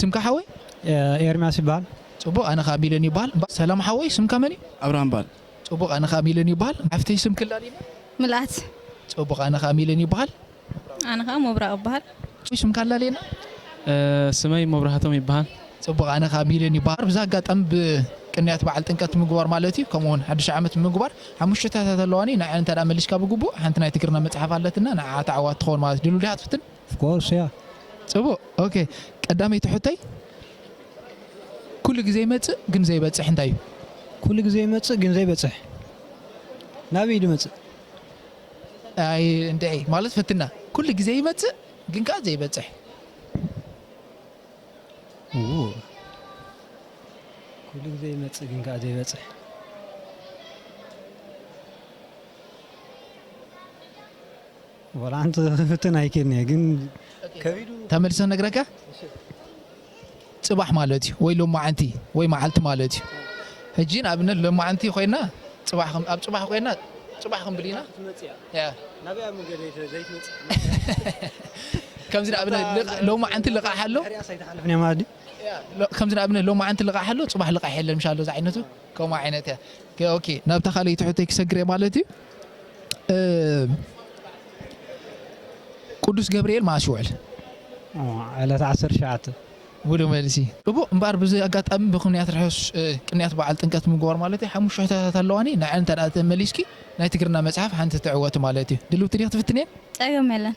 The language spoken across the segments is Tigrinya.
ስምካ ሓወይ? ኤርምያስ ይበሃል። ጽቡቕ ኣነ ከኣ ሚለን ይበሃል። ሰላም ሓወይ ስምካ መን እዩ? ኣብርሃም ይበሃል። ጽቡቕ ኣነ ከኣ ሚለን ይበሃል። ሓፍተይ ስምኪ ላሊና። ምልኣት። ጽቡቕ ኣነ ከኣ ሚለን ይበሃል። ኣነ ከኣ ሞብራቅ እባሃል። ሽምካ ኣላልየና። ስመይ መብራህቶም ይበሃል። ጽቡቅ ኣነ ከኣ ቢሌን ይበሃል። ብዚ ኣጋጣሚ ብ ቅንያት በዓል ጥምቀት ምግባር ማለት ኢዩ ከምኡ ውን ሓድሽ ዓመት ምግባር ሓሙሽተታት ኣለዋኒ ንዐን እንተ መሊስካ ብግቡእ ሓንቲ ናይ ትግርና መጽሓፍ ኣለትና ንዓዓ ተዓዋቲ ትኸውን ማለት ድሉው ዲኻ ትፍትን ኦፍኮርስ እያ። ጽቡቅ ኦኬ ቀዳመይቲ ሕቶይ ኩሉ ግዜ ይመጽእ ግን ዘይበጽሕ እንታይ ኢዩ? ኩሉ ግዜ ይመጽእ ግን ዘይበጽሕ ናበይ ኢዩ ድመጽእ? ኣይ እንድዒ ማለት ፈትና ኩሉ ግዜ ይመጽእ ግን ከኣ ዘይበጽሕ። ኡው ኩሉ ግዜ ይመጽእ ግን ከኣ ዘይበጽሕ። ወላ ሓንቲ ክፍትን ኣይክእልን እየ ግን ከቢዱ ተመልሰ ክነግረካ። ጽባሕ ማለት እዩ ወይ ሎማዕንቲ ወይ መዓልቲ ማለት እዩ ህጂ ንኣብነት ሎማዕንቲ ኮይና ጽባሕ ኣብ ጽባሕ ኮይና ጽባሕ ክንብል ኢና ከምዚ ንኣብነት ሎማዕንቲ ልቃሕ ኣሎ ከምዚ ንኣብነት ሎማዕንቲ ልቃሕ ኣሎ ጽባሕ ልቃሕ የለን ምሽ ኣሎ ዝዓይነቱ ከምኡ ዓይነት እያ ኦኬ ናብታ ካልኣይቲ ሕቶይ ክሰግር እየ ማለት እዩ ቅዱስ ገብርኤል መኣስ ይውዕል? ዕለት ዓሰርተ ትሽዓተ። ምሉእ መልሲ። እቦ እምበኣር ብዚ ኣጋጣሚ ብክንያት ርሑስ ቅንያት በዓል ጥምቀት ምግባር ማለተይ ሓሙሽተ ሕቶታት ኣለዋኒ ንዐን እንተ ተመሊስኪ ናይ ትግርና መጽሓፍ ሓንቲ ትዕወቲ ማለት እዩ ድልውቲ ዲኺ ትፍትንየን? ጸገም የለን።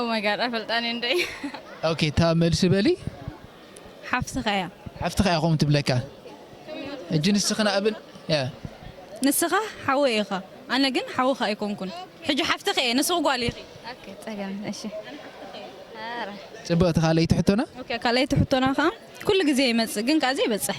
ኦማይጋድ ኣይፈልጣን እየ እንደ ኦኬ እታ መልሲ በሊ ሓፍትኻ እያ ሓፍትኻ እያ ከምኡ ትብለካ እጂ ንስኺ ንኣብን ንስኻ ሓወ ኢኻ ኣነ ግን ሓውኻ ኣይኮንኩን ሕጂ ሓፍትኺ እየ ንስኺ ጓል ኢኺ ፀገም እሺ ፅብቕቲ ካልኣይቲ ሕቶና ካልኣይቲ ሕቶና ከዓ ኩሉ ግዜ ይመፅእ ግን ከዓ ዘይበፅሕ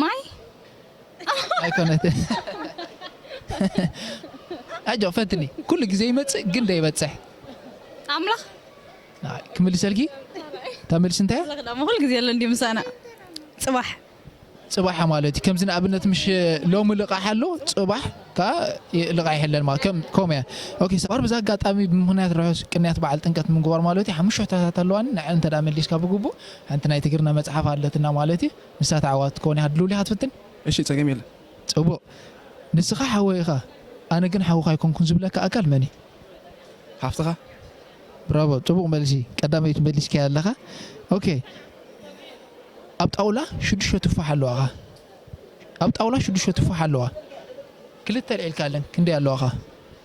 ማይ ኣይኮነትንኣጆ ፈትኒ ኩሉ ግዜ ይመፅእ ግን ደይበፅሕ ኣምላኽ ክምልሰልኪ እታ መልሲ እንታይ ኩሉ ግዜ ኣሎ እንዲ ምሳና ፅባሕ ፅባሕ ማለት እዩ ከምዚ ንኣብነት ምሽ ሎሚ ልቃሕ ኣሎ ፅባሕ ከዓ ልቃሕ ይሕለል ማለት ከምኡ እያ ኦኬ ሰባር ብዛ ኣጋጣሚ ብምክንያት ርሑስ ቅንያት በዓል ጥምቀት ምንግባር ማለት እዩ ሓሙሽተ ሕቶታት ኣለዋኒ ንዐ እንተ መሊስካ ብግቡእ ሓንቲ ናይ ትግርና መጽሓፍ ኣለትና ማለት እዩ ንሳ ትዓዋት ክትከውን እያ ሃድልውሊ ኢካ ትፍትን። እሺ ጸገም የለን። ጽቡቅ ንስካ ሓወይ ኢካ ኣነ ግን ሓውካ ኣይኮንኩን ዝብለካ ኣካል መን እዩ? ሓፍትካ። ብራቮ ጽቡቅ መልሲ ቀዳመይቲ መሊስካያ ኣለካ ኦኬ ኣብ ጣውላ ሽዱሽተ ቱፋሕ ኣለዋ እኻ ኣብ ጣውላ ሽዱሽተ ቱፋሕ ኣለዋ ክልተ ኣልዒልካ ኣለን ክንደይ ኣለዋ እኻ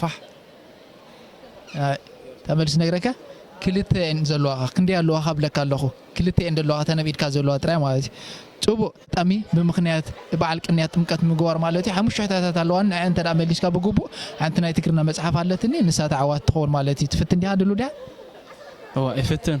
ፋሕ ኣይ እታ መልሲ ነግረካ ክልተ እየን ዘለዋኻ ክንደይ ኣለዋኻ እብለካ ኣለኹ ክልተ እየን ዘለዋኻ እተን ኣብ ኢድካ ዘለዋ ጥራይ ማለት እዩ ጽቡቅ ጠሚ ብምኽንያት በዓል ቅንያት ጥምቀት ምግባር ማለት እዩ ሓሙሽተ ሕታታት ኣለዋኒ ንዐን እንተ መሊስካ ብግቡእ ሓንቲ ናይ ትግርና መጽሓፍ ኣለትኒ ንሳ ተዓዋቲ ትኸውን ማለት እዩ ትፍትን ዲኻ ድሉው ዲኻ እወ ይፍትን።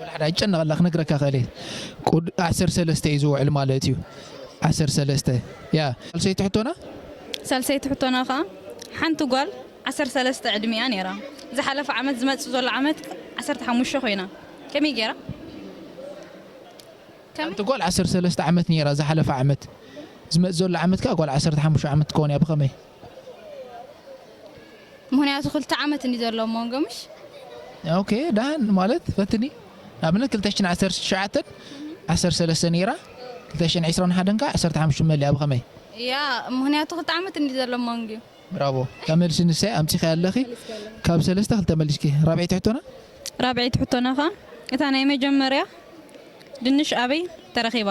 ወላሓደ ኣይጨነቐላ ክነግረካ ክእል እየ ቁድ ዓሰርተ ሰለስተ እዩ ዝውዕል ማለት እዩ ዓሰርተ ሰለስተ ያ ሳልሰይቲ ሕቶና ሳልሰይቲ ሕቶና ከዓ ሓንቲ ጓል ዓሰርተ ሰለስተ ዕድሚያ ነይራ ዝሓለፈ ዓመት ዝመፅእ ዘሎ ዓመት ዓሰርተ ሓሙሽተ ኮይና ከመይ ገይራ ሓንቲ ጓል ዓሰርተ ሰለስተ ዓመት ነይራ ዝሓለፈ ዓመት ዝመፅእ ዘሎ ዓመት ከዓ ጓል ዓሰርተ ሓሙሽተ ዓመት ትከውን እያ ብከመይ ምክንያቱ ክልተ ዓመት እንዲ ዘሎ ሞንጎምሽ ኦኬ ዳህን ማለት ፈትኒ ንኣብነት 219 13 ነይራ 221 ከዓ 15 መሊኣ ብኸመይ ያ ምክንያቱ ክልተ ዓመት እንዲ ዘሎ ሞንግ ብራቮ ካብ መልሲ ንሳይ ኣምፂኸ ኣለኺ ካብ ሰለስተ ክልተ መሊስኪ ራብዒ ትሕቶና ራብዒ ትሕቶና ከዓ እታ ናይ መጀመርያ ድንሽ ኣበይ ተረኺባ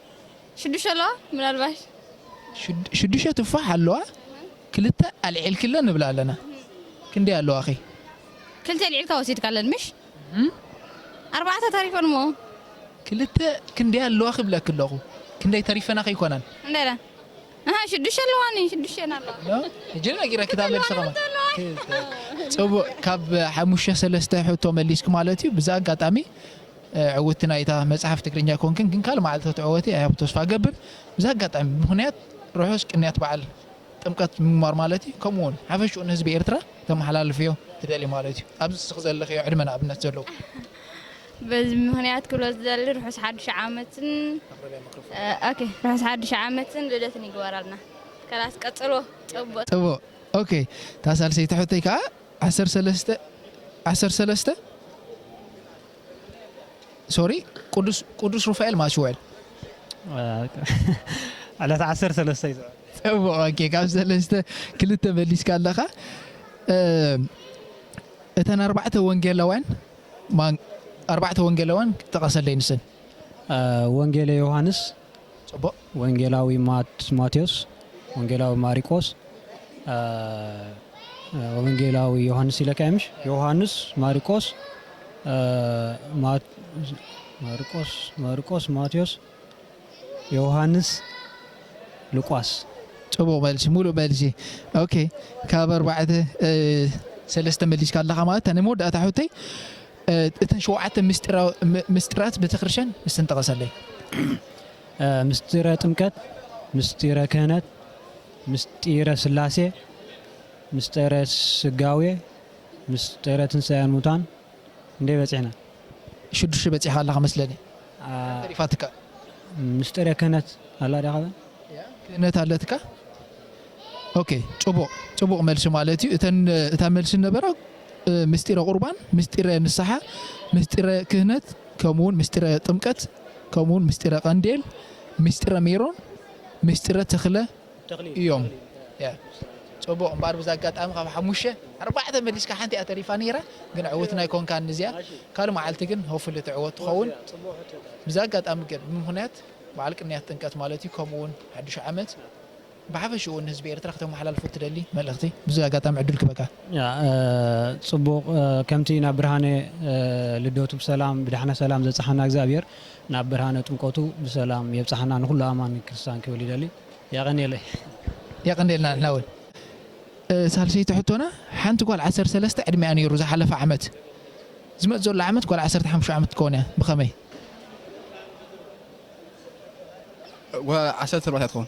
ሽዱሸ ኣለዋ ምናልባሽ። ሽዱሸ ቱፋሕ ኣለዋ ክልተ ኣልዒልክለን ንብል ኣለና ክንደይ ኣለዋኺ። ክልተ ኣልዒልካ ወሲድካለን ምሽ ኣርባዕተ ተሪፈን እሞ። ክልተ ክንደይ ኣለዋ ክብለኪ ኣለኹ ክንደይ ተሪፈናኺ ኣይኮናን። ክንደይ ኢለን ኣሃ ሽዱሸ ኣለዋኒ ሽዱሸ ኣለዋ። ሕጂ ነጊረኪ እታ መልሲ ከማን። ጽቡቅ ካብ ሓሙሽተ ሰለስተ ሕቶ መሊስኪ ማለት እዩ ብዚ ኣጋጣሚ ዕውቲ ናይታ መጽሐፍ ትግርኛ ኮንክን ግን ካልእ መዓልቲ ክትዕወቲ ኣይ ሆፕ ተስፋ እገብር ብዚ ኣጋጣሚ ብምክንያት ርሑስ ቅንያት በዓል ጥምቀት ምንባር ማለት እዩ ከምኡ ውን ሓፈሽኡ ንህዝቢ ኤርትራ ተመሓላልፍዮ ትደሊ ማለት እዩ ኣብዚ ንስኺ ዘለኽዮ ዕድመ ንኣብነት ዘለዎ በዚ ምክንያት ክብሎ ዝደሊ ርሑስ ሓዱሽ ዓመትን ኦኬ ርሑስ ሓዱሽ ዓመትን ልደትን ይግበራልና ከላስ ቀጽልዎ ጽቡቅ ጽቡቅ ኦኬ እታ ሳልሰይቲ ሕቶይ ከዓ ዓሰርተ ሰለስተ ዓሰርተ ሰለስተ ሶሪ ቅዱስ ቅዱስ ሩፋኤል ማለት ሽወል ዕለት ዓሰርተ ሰለስተ እዩ ዝዕወት። ጽቡቕ ኦኬ ካብ ሰለስተ ክልተ መሊስካ ኣለኻ እ፣ እተን ኣርባዕተ ወንጌላውያን ማን ኣርባዕተ ወንጌላውያን ጠቐሰለይ ንሰን አ፣ ወንጌለ ዮሃንስ ጽቡቕ ወንጌላዊ ማቴዎስ ወንጌላዊ ማሪቆስ ወንጌላዊ ዮሐንስ ኢለካ ምሽ ዮሐንስ ማሪቆስ ማርቆስ ማርቆስ ማቴዎስ ዮሐንስ ሉቃስ ጽቡቕ መልሲ ሙሉእ መልሲ ኦኬ ካብ ኣርባዕተ ሰለስተ መሊስካ ኣለኻ ማለት እታ ናይ መወዳእታ ሕቶይ እተን ሸውዓተ ምስጢራት ቤተክርስትያን እስተን ጠቐሰለይ። ምስጢረ ጥምቀት፣ ምስጢረ ክህነት፣ ምስጢረ ሥላሴ፣ ምስጢረ ሥጋዌ፣ ምስጢረ ትንሣኤ ሙታን ክንደይ በጺሕና? ሽዱሽተ በጺሕካ ኣለኻ መስለኒ ሓንቲ ተሪፋትካ። ምስጢረ ክህነት ኣላ ድያ ካባን? ክህነት ኣለትካ? ኦኬ ጭቡቅ ጭቡቅ መልሲ ማለት እዩ እተን እታ መልሲ ነበረ ምስጢረ ቁርባን ምስጢረ ንስሓ ምስጢረ ክህነት ከምኡውን ምስጢረ ጥምቀት ከምኡውን ምስጢረ ቀንዴል ምስጢረ ሜሮን ምስጢረ ተክለ እዮም ጽቡቕ እምበኣር ብዛ ኣጋጣሚ ካብ ሓሙሽተ ኣርባዕተ መሊስካ ሓንቲ እያ ተሪፋ ነይራ ግን ዕውት ናይ ኮንካን እዚኣ ካልእ መዓልቲ ግን ሆፍሊ ትዕወት ትኸውን ብዛ ኣጋጣሚ ግን ብምክንያት በዓል ቅንያት ጥንቀት ማለት እዩ ከምኡውን ሓዱሽ ዓመት ብሓፈሽኡ ንህዝቢ ኤርትራ ክተመሓላልፎ እትደሊ መልእኽቲ? ብዚ ኣጋጣሚ ዕድል ክበካ። ጽቡቅ ከምቲ ናብ ብርሃነ ልደቱ ብሰላም ብዳሕና ሰላም ዘብጽሓና እግዝኣብሄር ናብ ብርሃነ ጥምቀቱ ብሰላም የብጽሓና ንኩሉ ኣማኒ ክርስታን ክብል ይደሊ የቀንየለይ። የቀንየልና ንሕና ውን። ሳልሰይቲ ሕቶና ሓንቲ ጓል ዓሰርተ ሰለስተ ዕድሜኣ ኔሩ ዝሓለፈ ዓመት ዝመጽእ ዘሎ ዓመት ጓል ዓሰርተ ሓሙሽተ ዓመት ክትከውን እያ ብኸመይ? ዓሰርተ ኣርባዕተ እያ ትኸውን።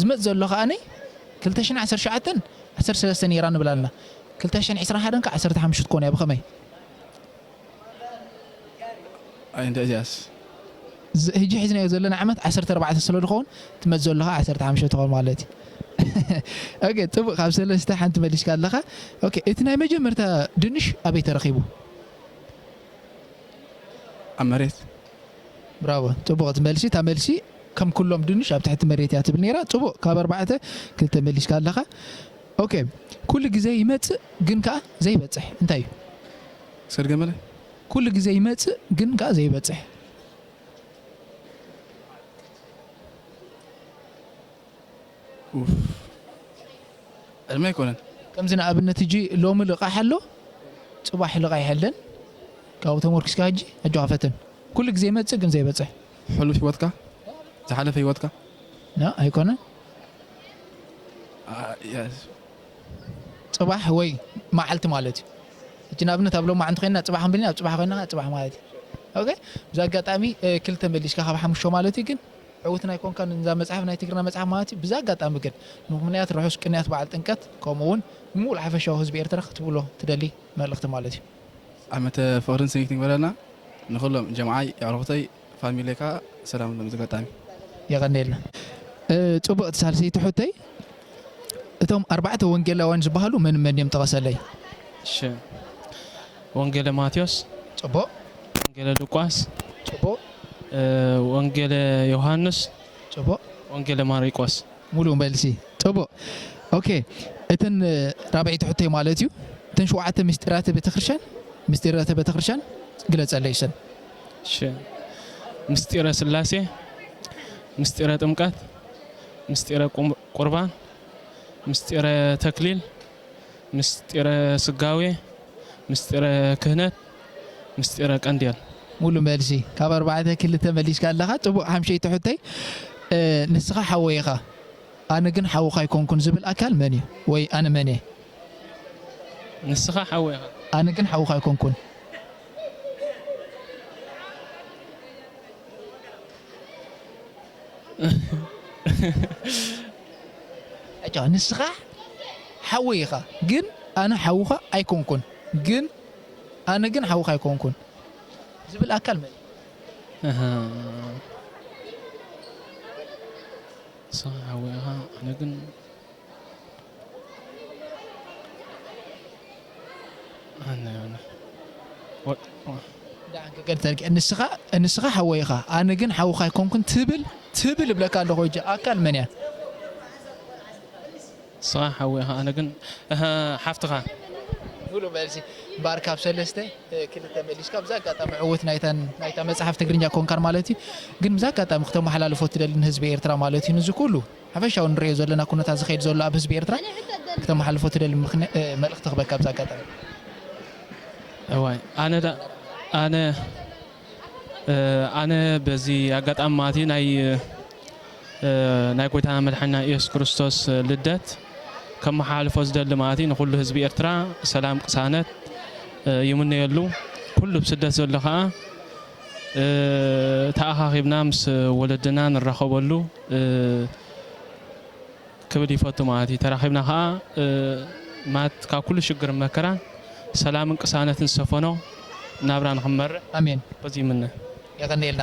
ዝመጽእ ዘሎ ከኣ ክልተ ሽሕን ዓሰርተ ሸውዓተን ዓሰርተ ሰለስተ ነይራ ንብል ኣልና ክልተ ሽሕን ዕስራን ሓደን ከኣ ዓሰርተ ሓሙሽተ ክትኮን እያ ብኸመይ ኣይንተ እዚኣስ ህጂ ሒዝናዮ ዘለና ዓመት ዓሰርተ ኣርባዕተ ስለ ዝኸውን ትመጽእ ዘሎ ከኣ ዓሰርተ ሓሙሽተ ትኸውን ማለት እዩ ኦኬ ጽቡቅ ካብ ሰለስተ ሓንቲ መሊስካ ኣለኻ ኦኬ እቲ ናይ መጀመርታ ድንሽ ኣበይ ተረኺቡ ኣብ መሬት ብራቮ ጽቡቅቲ መልሲ እታ መልሲ ከም ኩሎም ድንሽ ኣብ ትሕቲ መሬት እያ ትብል ነይራ ጽቡቅ ካብ ኣርባዕተ ክልተ መሊስካ ኣለኻ ኦኬ ኩሉ ግዜ ይመጽእ ግን ከኣ ዘይበጽሕ እንታይ እዩ ሰርገ መለ ኩሉ ግዜ ይመጽእ ግን ከኣ ዘይበጽሕ ኡፍ ዕድመ ኣይኮነን። ከምዚ ንኣብነት ህጂ ሎሚ ልቃሕ ኣሎ ጽባሕ ልቃሕ የለን ካብኡ ተሞርኪስካ ህጂ ኣጆካ ፈትን ኩሉ ግዜ ይመጽእ ግን ዘይበጽሕ። ሕሉፍ ሂወትካ ዝሓለፈ ሂወትካ። ን ኣይኮነን። ኣያስ። ጽባሕ ወይ መዓልቲ ማለት እዩ ህጂ ንኣብነት ኣብ ሎማዕ እንተኮይንና ጽባሕ ክንብል ኢና ኣብ ጽባሕ ኮይና ከኣ ጽባሕ ማለት እዩ ኦኬ ብዚ ኣጋጣሚ ክልተ መሊስካ ካብ ሓሙሽተ ማለት እዩ ግን። ዕውትና ኣይኮንካን ንዛ መጽሓፍ ናይ ትግርና መጽሓፍ ማለት እዩ ብዚ ኣጋጣሚ ግን ብምኽንያት ርሑስ ቅንያት በዓል ጥምቀት ከምኡ ውን ንሙሉእ ሓፈሻዊ ህዝቢ ኤርትራ ክትብሎ ትደሊ መልእኽቲ ማለት እዩ። ዓመተ ፍቅርን ስኒት ንግበረልና ንኩሎም ጀምዓይ የዕሩኩተይ ፋሚለይ ካኣ ሰላም ንሎም በዚ ኣጋጣሚ። የቐኔልና ጽብቕቲ ሳልሰይቲ ሑተይ እቶም ኣርባዕተ ወንጌላውያን ዝበሃሉ መን መን እዮም ጥቐሰለይ። እሺ ወንጌለ ማቴዎስ። ጽቡቕ። ወንጌለ ሉቃስ። ጽቡቕ። ወንጌለ ዮሃንስ። ጽቡቕ። ወንጌለ ማሪቆስ። ሙሉእ መልሲ። ጽቡቕ። ኦኬ እተን ራብዐይቲ ሕቶይ ማለት እዩ እተን ሸውዓተ ምስጢራተ ቤተክርስትያን ምስጢራተ ቤተክርስትያን ግለጸለይ እሰን። እሺ ምስጢረ ስላሴ፣ ምስጢረ ጥምቀት፣ ምስጢረ ቁርባን፣ ምስጢረ ተክሊል፣ ምስጢረ ስጋዌ፣ ምስጢረ ክህነት፣ ምስጢረ ቀንዴል። ሙሉ መልሲ ካብ ኣርባዕተ ክልተ መሊስካ ኣለኻ ጽቡቅ ሓምሸይቲ ሕቶይ ንስኻ ሓወይ ኢኻ ኣነ ግን ሓውኻ ኣይኮንኩን ዝብል ኣካል መን እዩ ወይ ኣነ መን እየ? ንስኻ ሓወይ ኢኻ። ኣነ ግን ሓውኻ ኣይኮንኩን። ዕጭ ንስኻ ሓወይ ኢኻ ግን ኣነ ሓውኻ ኣይኮንኩን ግን ኣነ ግን ሓውኻ ኣይኮንኩን ዝብል ኣካል መን እዩ? ንስኻ ሓወይ ኢኻ ኣነ ግን ሓውኻ ኣይኮንኩን ትብል ትብል እብለካ ኣለኹ ሕጂ ኣካል መን እያ ንስኻ ሓወይ ኢኻ ኣነ ግን ሓፍትኻ ሙሉእ መልሲ እምበኣር ካብ ሰለስተ ክልተ መሊስካ ብዛ ኣጋጣሚ ዕውት ናይታ መፅሓፍ ትግርኛ ኮንካን ማለት እዩ ግን ብዛ ኣጋጣሚ ክተመሓላልፎ ትደሊ ንህዝቢ ኤርትራ ማለት እዩ ንዚ ኩሉ ሓፈሻዊ ንርእዮ ዘለና ኩነታት ዝኸይድ ዘሎ ኣብ ህዝቢ ኤርትራ ክተማሓልፎ ትደሊ ምኽን መልእኽቲ ክበካ ኣብዚ ኣጋጣሚ። እዋይ ኣነ ዳኣ ኣነ ኣነ በዚ ኣጋጣሚ ማለትይ ናይ ናይ ጎይታና መድሓኒና ኢየሱስ ክርስቶስ ልደት ከመሓላልፎ ዝደሊ ማለትይ ንኹሉ ህዝቢ ኤርትራ ሰላም ቅሳነት ይምነየሉ ኩሉ ብ ስደት ዘሎ ካኣ ተኣኻኺብና ምስ ወለድና ንራኸበሉ ክብል ይፈቱ ማለት እዩ። ተራኺብና ከኣ ማለት ካብ ኩሉ ሽግርን መከራን ሰላምን ቅሳነትን ዝሰፈኖ ናብራ ንኽንመርሕ ኣሜን። በዚ ይምነ። የቐንየልና።